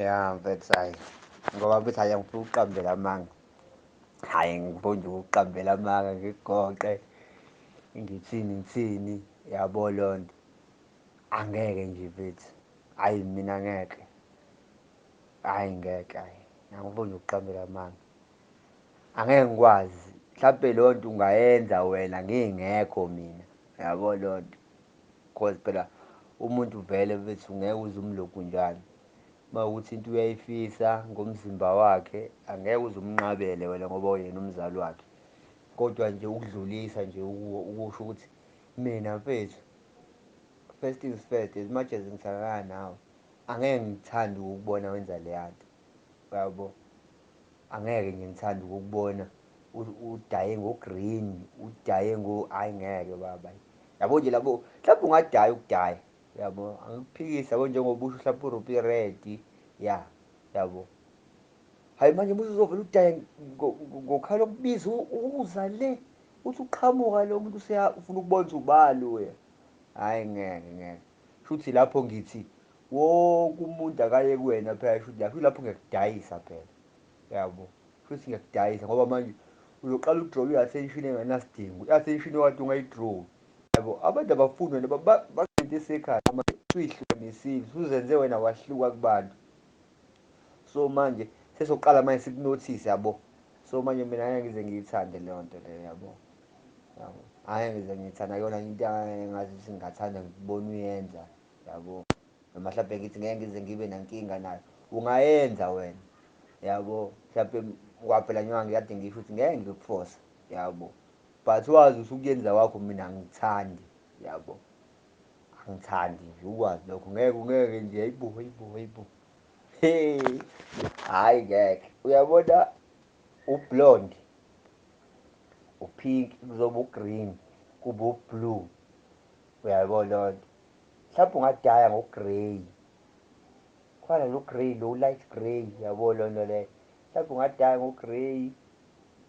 ya mfethu hayi ngoba bethi hayi angifuna ukuqambela amanga hhayi ngifuna nje ukuqambela amanga ngigoqe ngithini ngithini yabo loo nto angeke nje mfethu hhayi mina ngeke hhayi ngeke hhayi angifuni nje ukuqambela amanga angeke ngikwazi mhlawumpe loo nto ungayenza wena ngingekho mina yabo loo nto cause phela umuntu vele bethu ngeke uze umlokhu njalo uma ukuthi into uyayifisa ngomzimba wakhe angeke uze umnqabele wena ngoba uyena umzali wakhe kodwa nje ukudlulisa nje ukusho ukuthi mina mfethu first things first as much as ngisakana nawe angeke ngithande ukubona wenza leya nto yabo Angeke nje ngithanda ukukubona udaye ngo-green udaye ngo ayi ngeke baba yabo nje labo mhlawumbe ungadaya ukudaya yabo angikuphikisi yabo njengoba usho mhlawumbe urupi red ya yabo hayi manje muthi uzovele udaye ngokhala okubiza uza le uthi uqhamuka lo muntu ufuna ukubona ukuthi ubani wena hhayi ngeke ngeke shuthi lapho ngithi wonke umuntu akaye kuwena phela shuthi lapho ilapho ngiyakudayisa phela yabo shuthi ngiyakudayisa ngoba manje uzoqala udrobe i-attention engenasidingo i-attention okade ungayidrobi yabo abantu abafuni wena bagcinte isekhaya manje suyihlukanisile suzenze wena wahluka kubantu so manje sesoqala manje sikunothise yabo so manje mina ngeke ngize ngiyithande leyo nto leyo yabo yabo angeke ngize ngiyithanda kuyona into engathi singathanda ngikubona uyenza yabo noma mhlawumbe ngithi ngeke ngize ngibe nankinga nayo ungayenza wena yabo mhlawumbe kwaphela njengoba ngikade ngisho ukuthi ngeke ngikufosa yabo but wazi usukuyenza kwakho mina angithandi yabo angithandi nje ukwazi lokho ngeke ngeke nje ayibo ayibo ayibo hey hayi ngeke uyabona ublonde upink kuzoba ugreen kuba ublue uyayibona loo nto mhlawumbe ungadaya ngogrey khona lo grey lo light grey yabo lonto le mhlawumbe ungadaya ngogrey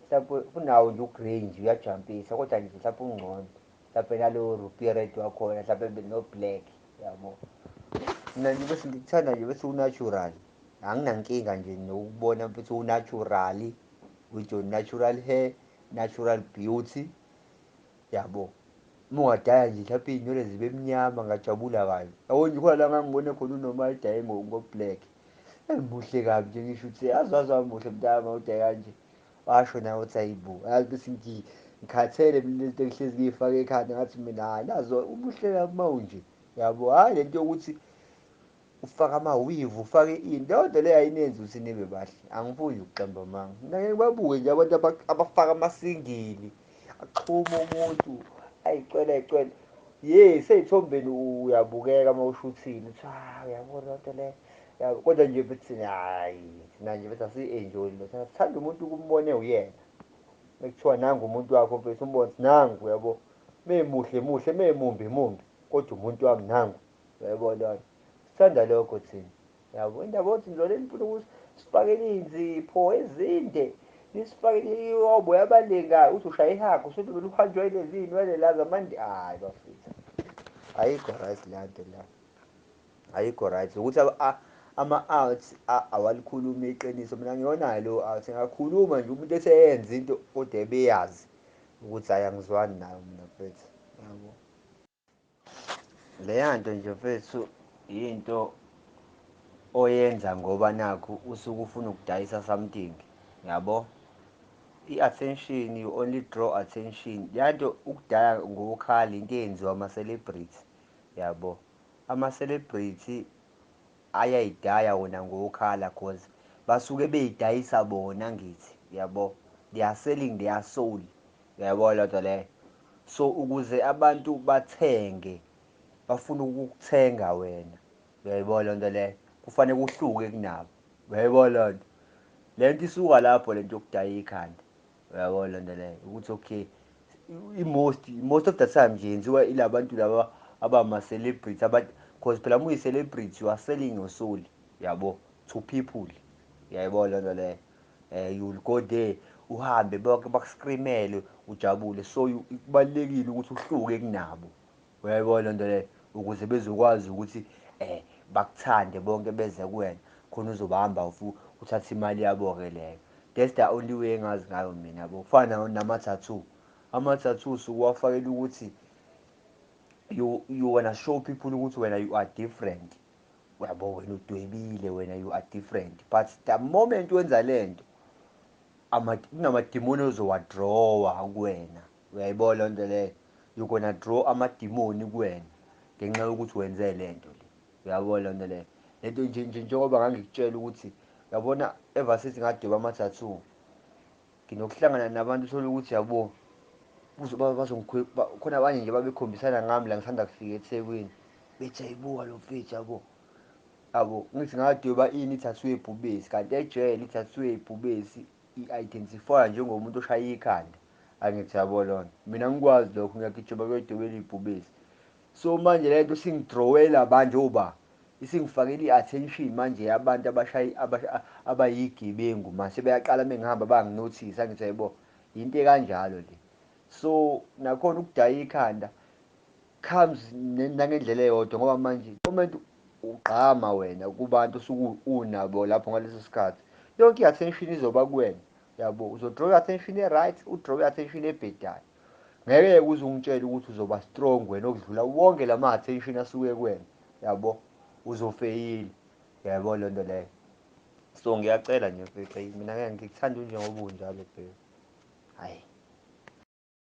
mhlawumbe unawo nje ugrey nje uyajampisa kodwa nje mhlawumbe ungcono mhlawumbe nalo ruby red wakhona mhlawumbe no-black yabo mina nje bese ngikuthanda nje bese unatural anginankinga nje nokubona bese unaturali with your natural hair natural beauty Yabo. Uma ungadaya nje mhlawumbe iy'nwele zibe mnyama ngajabula kanye. Yabo nje khona la ngangibone khona uNoma edaye ngo-black. Eyi muhle kabi nje ngisho ukuthi yazi waze wamuhle mntaka uma udaye kanje. Washo nawe uthi ayi bo. Yazi bese ngi ngikhathele mina lento engihlezi ngiyifaka ekhanda ngathi mina hhayi nazo umuhle kabi uma unje. Yabo hhayi lento yokuthi Ufaka ama weave ufake ini leyonto leyo ayinenzi ukuthi nibe bahle angifuni nje ukuqamba amanga mina ngeke babuke nje abantu abafaka amasingili axhuma umuntu ayicwela ayicwela ye seyithombeni uyabukeka uma ushuthile uthi ah uyabona lento le kodwa nje bethi hayi thina nje bethi asiyi-enjoyi le sithanda umuntu ukumbone uyena mekuthiwa nangu umuntu wakho mfethu umbone nangu uyabo memuhle muhle memumbi mumbi kodwa umuntu wami nangu Uyayibona lona. Sithanda lokho thina. Yabo indaba yokuthi lona nifuna ukuthi sifakele inzipho ezinde. Nisifakele iyobo yabalinga uthi ushaya ihagu usuthi mina uhanjwa ilezi inwele la zamandi hayi bafethu. Ayikho right le nto la. Ayikho right ukuthi ama-arts awalikhulumi iqiniso mina ngiyonayo leyo arts ngakhuluma nje umuntu eseyenza into kodwa ebeyazi ukuthi hayi angizwani nayo mina mfethu yabo Leyanto nje mfethu yinto oyenza ngoba nakho usuke ufuna ukudayisa something yabo i-attention you only draw attention leyanto ukudaya ngokukhala into eyenziwa ama-celebrity yabo ama-celebrity ayayidaya wona ngokukhala cause basuke beyidayisa bona ngithi yabo they are selling their soul uyayibona lento leyo So ukuze abantu bathenge bafuna ukukuthenga wena uyayibona lento leyo kufanele kuhluke kunabo uyayibona lento lento isuka lapho lento yokudaya ikhanda uyayibona lento leyo ukuthi okay i-most most of the time nje yenziwa ilabantu laba abama celebrity abathi because phela uma uyi-celebrity you are selling your soul yabo to people uyayibona lento leyo eh you will go there uhambe bonke bakuscreamele ujabule so kubalekile ukuthi uhluke kunabo uyayibona lento le ukuze bezokwazi ukuthi eh bakuthande bonke beze kuwena khona uzobahamba ufu uthatha imali yabo ke leyo that's the only way engazi ngayo mina yabo kufana nama tattoo ama tattoo sukuwafakela ukuthi you you wanna show people ukuthi wena you are different Uyabo wena udwebile wena you are different but the moment wenza lento ama kunamadimoni ozowadrawa kuwena. Uyayibona le nto leyo? You're gonna draw amadimoni kuwena ngenxa yokuthi wenze le nto le. Uyabo le nto leyo? Le nto nje nje njengoba ngangikutshela ukuthi uyabona ever since ngadweba ama-tattoo Nginokuhlangana nabantu uthole ukuthi yabo khona abanye nje babekhombisana ngami la ngisanda kufika eThekwini bethi ayibuka lo mfethu yabo yabo ngithi ngadweba ini ithathwe ibhubesi kanti ejele ithathwe ibhubesi i-identifywa njengomuntu oshaye ikhanda angithi yabo lona mina ngikwazi lokho ngiyagijima kuyodwebela ibhubesi So manje lento singidrawela manje oba isingifakela i-attention manje yabantu abashayi abayigebengu manje sebeyaqala mengihamba banginothisa ngithi hayibo yinto ekanjalo le so nakhona ukudaya ikhanda comes nangendlela eyodwa ngoba manje comment ugqama wena kubantu osuke unabo lapho ngaleso sikhathi yonke i-attention izoba kuwena yabo uzodraw i-attention e-right udraw i-attention ebhedayo ngeke uze ungitshele ukuthi uzoba strong wena okudlula wonke la ma-attention asuke kuwena yabo uzofeyila yabo loo nto leyo so ngiyacela nje bhebhe mina ngeke ngikuthanda unjengoba unjalo bhebhe hhayi